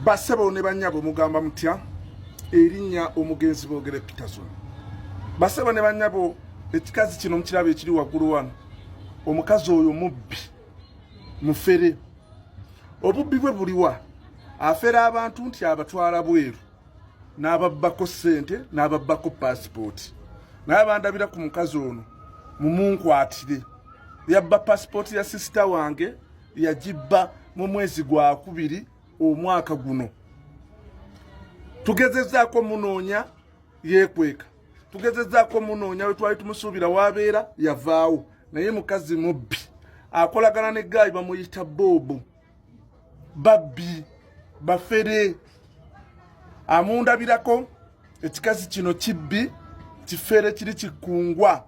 basebo ne banyabo mugamba mutya erinya omugenzi bogere Peterson basebo ne banyabo ekikazi kino mukirabe ekiri wagulu wano omukazi oyo mubbi mufere obubbi bwe buliwa afera abantu nti abatwala bweru n'ababbako ssente n'ababbako paasipooti naye bandabira ku mukazi ono mumunkwatire yabba paasipooti ya sisita wange yagibba mu mwezi gwa kubiri omwaka guno tugezezaako munoonya yekweka tugezezaako munoonya we twali tumusuubira wabeera yavaawo naye mukazi mubbi akolagana ne gaayi bamuyita boobu babbi bafere amundabirako ekikazi kino kibbi kifere kiri kikungwa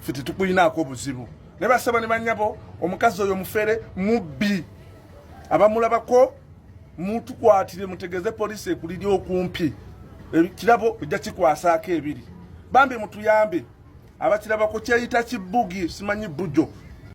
ffe tetukulinaako buzibu ne basaba ne banyabo omukazi oyo mufere mubbi abamulabako mutukwatire mutegeze poliisi ekuliri okumpi ekirabo ojja kikwasaako ebiri bambi mutuyambe abakirabako kyeyita kibugi simanyi bujo